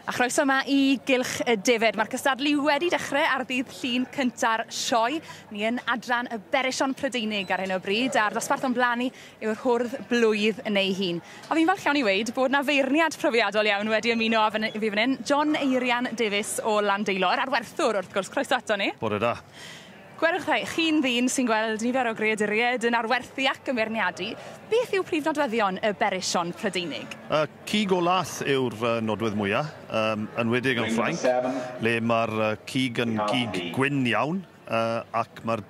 A chroeso yma i Gylch y Defaid. Mae'r cystadlu wedi dechrau ar ddydd llun cynta'r sioe. Ni yn adran y Berishon Prydeinig ar hyn o bryd, a'r ddosbarth o'n blaen ni yw'r hwrdd blwydd yn ei hun. A fi'n falch iawn i weid bod na feirniad profiadol iawn wedi ymuno â fi fan hyn, John Eirian Davies o Landeilor, a'r werthwr wrth gwrs, croeso ato ni. Bore da. Gwerwch dda, chi'n ddyn sy'n gweld nifer o greaduriaid yn arwerthu ac yn feirniadu, beth yw prif nodweddion y berrichon Prydeinig? Y cig o lath yw'r nodwedd mwya', yn enwedig yn Ffrainc, le mae'r cig yn gig gwyn iawn ac mae'r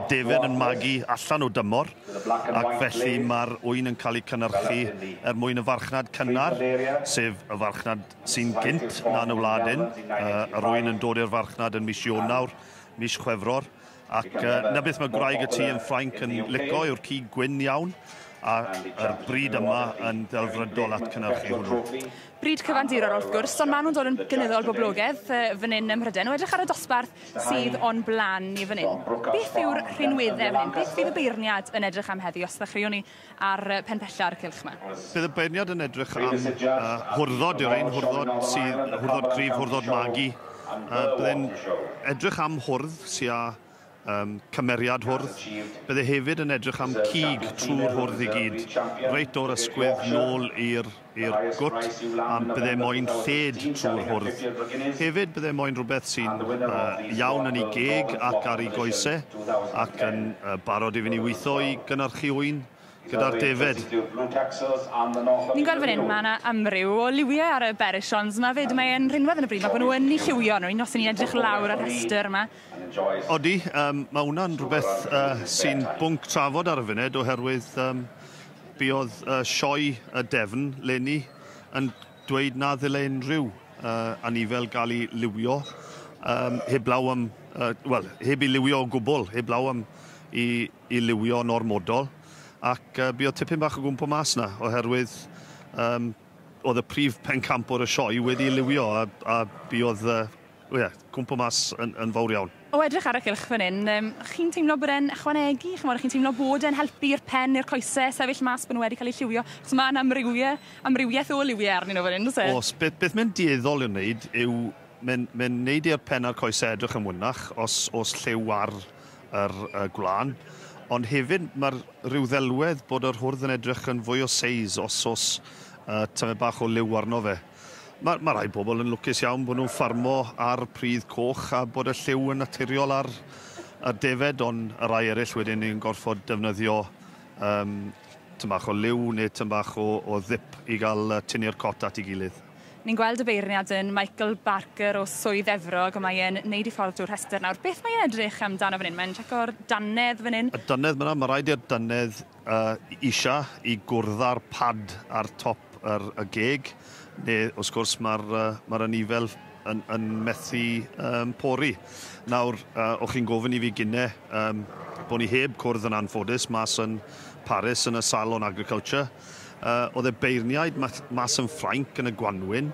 defaid yn magu allan o dymor, ac felly mae'r ŵyn yn cael eu cynhyrchu er mwyn y farchnad cynnar, sef y farchnad sy'n gynt na yn y wlad hyn, yr ŵyn yn dod i'r farchnad yn mis Ionawr, mis Chwefror, ac uh, na beth mae gwraig y tu yn Ffrainc yn lico yw'r cig gwyn iawn, ac yr bryd yma yn ddelfrydol at cynnyrchu hwnnw. Bryd cyfandirol wrth gwrs, ond maen nhw'n dod yn gynyddol boblogedd fan hyn ym Mhryden. O edrych ar y dosbarth sydd o'n blaen ni fan hyn, beth yw'r rhinweddau fan hyn? Beth fydd y beirniad yn edrych am heddi os ddechreuwn ni ar Pen Pella ar y cylch yma. Bydd y beirniad yn edrych am hwrddod yw'r ein hwrddod sydd hwrddod cryf, hwrddod magu. Bydd e'n edrych am hwrdd sy'n â um, cymeriad hwrdd. Bydde hefyd yn edrych am cig trwy'r hwrdd i gyd, reit o'r ysgwydd nôl i'r i'r gwt a bydde moyn lled trwy'r hwrdd. Hefyd bydde moyn rhywbeth sy'n iawn yn ei geg ac ar ei goese ac yn barod iddyn ni weithio i gynhyrchu ŵyn gyda'r defaid. Ni'n gweld fan hyn, mae yna amryw o liwiau ar y Berrichons 'ma 'fyd. Mae e'n rhinwedd yn y bryd 'ma bod nhw yn eu lliwio nhw, os 'y ni'n edrych lawr ar y rhestr yma. Odi, mae hwnna'n rhywbeth sy'n bwnc trafod ar y funud oherwydd Buodd y sioe y defn leni yn dweud na ddyle unrhyw anifel gael ei liwio heblaw am, wel, heb ei liwio o gwbl, heblaw am ei liwio'n ormodol. Ac buodd tipyn bach o gwmpo mas 'na, oherwydd oedd y prif pencampwr y sioe wedi ei liwio a buodd O ie, cwmpo mas yn, yn fawr iawn. O edrych ar y cylch fan hyn, um, chi'n teimlo bod e'n ychwanegu, chymod, chi'n teimlo bod e'n helpu i'r pen neu'r coesau sefyll mas bod nhw wedi cael eu lliwio, chos mae yna amrywiau, amrywiaeth o liwiau arnyn nhw fan hyn, oes e? Os, beth, beth mae'n dueddol i'w wneud yw, mae'n, mae'n wneud i'r pen a'r coesau edrych yn fwynach os, os lliw ar yr uh, gwlân, ond hefyd mae'r rhyw ddelwedd bod yr hwrdd yn edrych yn fwy o seis os os uh, tymed bach o liw arno fe. Mae, mae rhai pobl yn lwcus iawn bod nhw'n ffarmo ar pridd coch a bod y lliw yn naturiol ar y defaid, ond y rhai eraill wedyn yn gorfod defnyddio um, tyn bach o liw neu tyn bach o, o ddip i gael tynnu'r cot at ei gilydd. Ni'n gweld y beirniad yn Michael Barker o Swydd Efrog, a mae e'n neud i ffordd drwy'r rhestr nawr. Beth mae'n edrych amdano fan hyn? Mae'n checo'r dannedd fan hyn. Y dannedd, mae'n rhaid i'r dannedd a isha i gwrdd â'r pad ar top yr, y geg, neu wrth gwrs mae'r uh, mae anifail yn, yn methu um, pori. Nawr, uh, o'ch chi'n gofyn i fi gynne um, bod ni heb cwrdd yn anffodus mas yn Paris yn y Salon Agriculture. Uh, oedd e beirniaid mas, mas yn Ffrainc yn y Gwanwyn.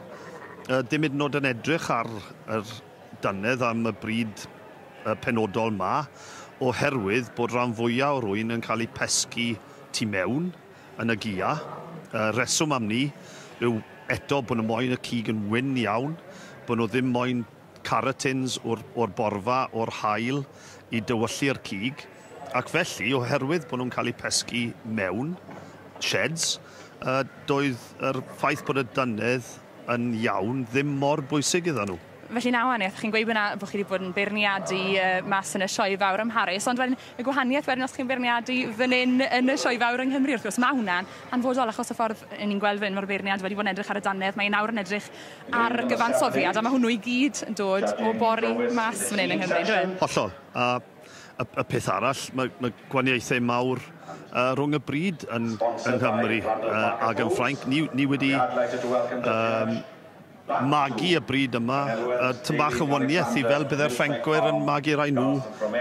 Uh, dim hyd yn oed yn edrych ar yr dannedd am y brid penodol 'ma oherwydd bod rhan fwya' o rwyn yn cael eu pesgi tu mewn yn y gia. Y rheswm am 'ny yw eto bod nhw moyn y cig yn wyn iawn, bod nhw ddim moyn caratins o'r borfa o'r haul i dywyllu'r cig, ac felly oherwydd bod nhw'n cael eu pesgi mewn sheds, doedd yr ffaith bod y dannedd yn iawn ddim mor bwysig iddon nhw. Felly na wahaniaeth, chi'n gweud bod chi wedi bod yn beirniadu mas yn y Sioe Fawr ym Mharis, ond wedyn y gwahaniaeth wedyn os chi'n beirniadu fan hyn yn y Sioe Fawr yng Nghymru wrth gwrs, mae hwnna'n hanfodol achos y ffordd yn ni'n gweld fan hyn mae'r beirniad wedi bod yn edrych ar y dannedd, mae nawr yn edrych ar gyfansoddiad a mae hwnnw i gyd yn dod o bori mas fan hyn yng Nghymru, yndyw e? Hollol. A Y, y peth arall, mae, mae gwaniaethau mawr uh, rhwng y bryd yn, yng Nghymru uh, ac yn Ffrainc. Ni, ni wedi um, magu y bryd yma, y tymbach yn waniaeth i fel bydde'r Ffrancwyr yn magu rai nhw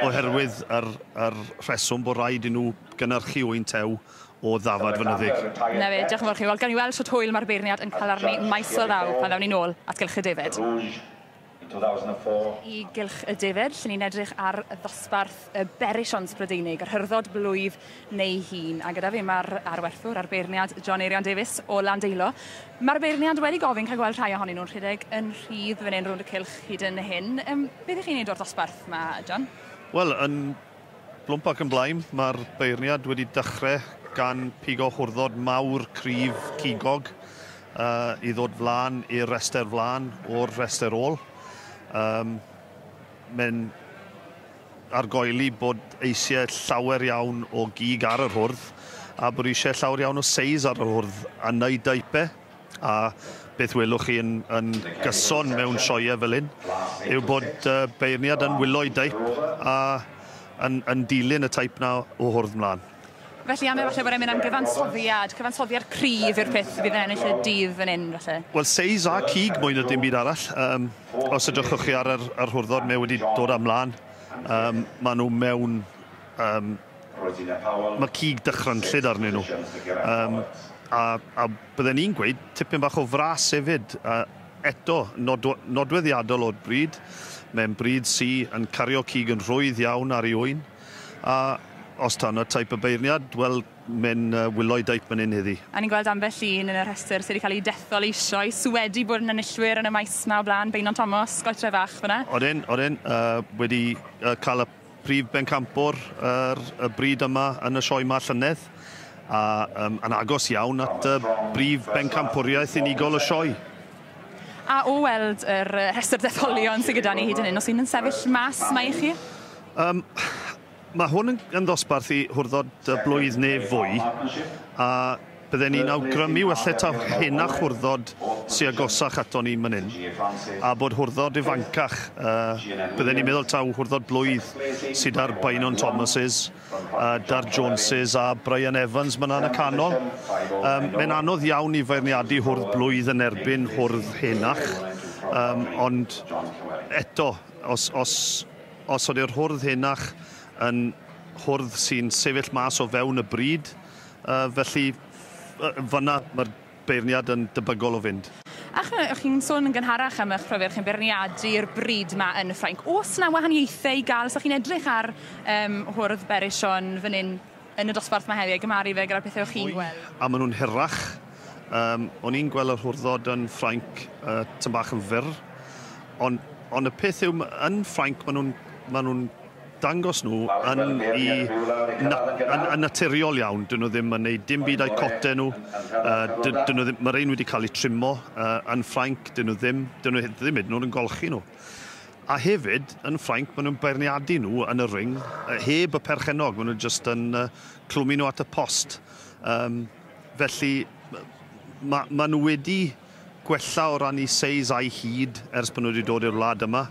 oherwydd yr, yr rheswm bod rhaid i nhw gynnyrchu wy'n tew o ddafad fynyddig. Na fe, diolch yn fawr chi. Wel, gan i weld sut hwyl mae'r beirniad yn cael arni maes o ddaw pan ddawn ni'n ôl at gylch y defaid. in 2004. Y gylch y defaid, lle ni'n edrych ar ddosbarth y berisiant Brydeinig, yr hyrddod blwydd neu hun. A gyda fi mae'r arwerthwr a'r beirniad John Eirian Davies o Landeilo. Mae'r beirniad wedi gofyn cael gweld rhai ohonyn nhw'n rhedeg yn rhydd fan hyn rownd y cylch hyd yn hyn. Um, beth ych chi'n neud o'r ddosbarth yma, John? Wel, yn Blwmp ac yn blaen, mae'r beirniad wedi dechrau gan pigo hwrddod mawr cryf cigog uh, i ddod flan i'r rester flan o'r rester ôl. Um, Mae'n argoeli bod eisiau llawer iawn o gig ar yr hwrdd a bod eisiau llawer iawn o seis ar yr hwrdd a wneud daipe. a beth welwch chi yn, yn gyson mewn sioeau fel hyn yw bod uh, beirniad yn wylo i daip a yn, yn dilyn y taip na o hwrdd mlaen. Felly am efallai bod e'n mynd am gyfansoddiad, cyfansoddiad cryf yw'r peth fydd yn ennill y dydd yn un, felly. Wel, seis a cig mwy na dim byd arall. Um, os ydych chi ar yr, yr hwrddod, mae wedi dod am mlaen. Um, maen nhw mewn um, Mae cig dychrynllyd arnyn nhw. Um, a, a bydden i'n gweud tipyn bach o fras hefyd. A eto, nod, nodweddiadol o'r bryd. Mae'n bryd sy yn cario cig yn rhwydd iawn ar ei ŵyn. A os ta yna taip y beirniad, wel, mae'n uh, wylo'i daip yn un heddi. A ni'n gweld ambell un yn y rhestr sydd wedi cael ei dethol eisoes, sydd wedi bod yn enillwyr yn y maes yma o blaen, Beinon Thomas, Goetre Fach fyna. Odyn, odyn, uh, wedi uh, cael y Prif bencampwr ar y bryd yma yn y Sioe 'ma llynedd, a um, yn agos iawn at y brif bencampwriaeth unigol y Sioe. A o weld yr rhestr detholion sydd gyda ni hyd yn hyn, os un yn sefyll mas, mae i chi? Um, mae hwn yn, yn ddosbarth i hwrdod y blwydd neu fwy, a Bydden ni'n awgrymu welleta hŷn a chwrddod sy agosach ato ni man hyn, a bod hwrddod ifancach, bydden ni'n meddwl taw hwrddod blwydd sy da'r Beynon Thomases, da'r Joneses a Brian Evans man 'na yn y canol. Mae'n anodd iawn i feirniadu hwrdd blwydd yn erbyn hwrdd henach, ond eto, os, os, os ydy'r hwrdd henach yn hwrdd sy'n sefyll mas o fewn y bryd, A felly, fan'na mae'r beirniad yn debygol o fynd. Ac mae, o'ch chi'n sôn yn gynharach am eich profiad, chi'n beirniadu'r bryd ma yn y Ffrainc. Oes na wahaniaethau i gael, os o'ch chi'n edrych ar um, hwrdd Berishon fan hyn yn y dosbarth mae heddi, a gymaru fe gyda'r pethau o'ch chi'n gweld? A maen nhw'n hirach. Um, o'n i'n gweld yr hwrddod yn Ffrainc uh, tyn bach yn fyr, ond on y peth yw, yn Ffrainc maen nhw'n ma nhw dangos nhw yn i na, yn, yn naturiol iawn. Dyn nhw ddim yn neud dim byd â'u cote nhw. Uh, dyn, dyn nhw ddim, mae'r ein wedi cael eu trimo uh, yn Ffrainc, dyn nhw ddim, dyn nhw ddim hyd yn oed yn golchi nhw. A hefyd, yn Ffrainc, maen nhw'n beirniadu nhw yn y ring, uh, heb y perchenog, maen nhw'n just yn uh, clwmu nhw at y post. Um, felly, mae ma nhw wedi gwella o ran eu seis a'u hyd ers bod nhw wedi dod i'r wlad yma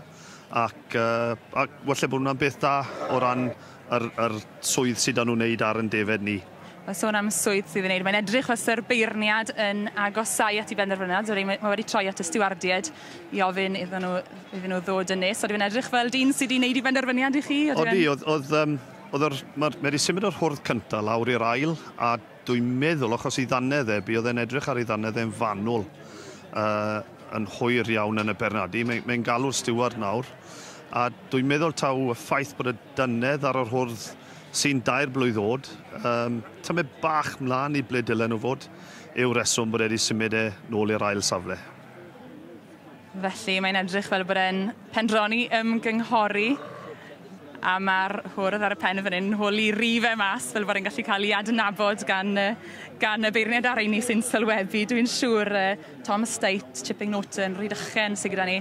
ac yy ac walle bod hwnna'n beth da o ran yr yr swydd sy 'da nhw'n wneud ar yn defed ni. Mae'n sôn am y swydd sydd yn wneud, mae'n edrych fysa'r beirniad yn agosau at i benderfyniad, so mae wedi troi at y stiwardiaid i ofyn iddyn nhw, iddyn nhw ddod yn nes, so dwi'n edrych fel dyn sydd wedi wneud i benderfyniad i chi? Odi, oedd, oedd, um, oedd yr, mae'r, mae wedi symud o'r hwrdd cyntaf lawr i'r ail, a Dwi'n meddwl, achos ei ddannedd e, buodd e'n edrych ar ei ddannedd e'n fanwl yy yn hwyr iawn yn y Bernardi. Mae, mae'n galw'r stiward nawr. A dwi'n meddwl taw y ffaith bod y dannedd ar yr hwrdd sy'n dair blwydd oed, um, tymed bach mlaen i ble dylen nhw fod, yw'r reswm bod e wedi symud e nôl i'r ail safle. Felly, mae'n edrych fel bod e'n pendroni ymgynghori a ma'r hwrdd ar y pen yn fan 'yn holi rife mas fel bod e'n gallu ca'l 'i adnabod gan yy gan y beirniad ar rheiny sy'n sylwebu dwi'n siŵr yy Tom Steight, Chipping Norton, Rhydychen sy gyda ni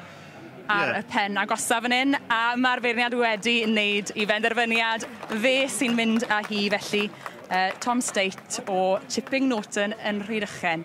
ar y pen agosa fan 'yn a ma'r beirniad wedi neud 'i benderfyniad fe sy'n mynd â hi felly yy Tom Steight o Chipping Norton yn Rhydychen.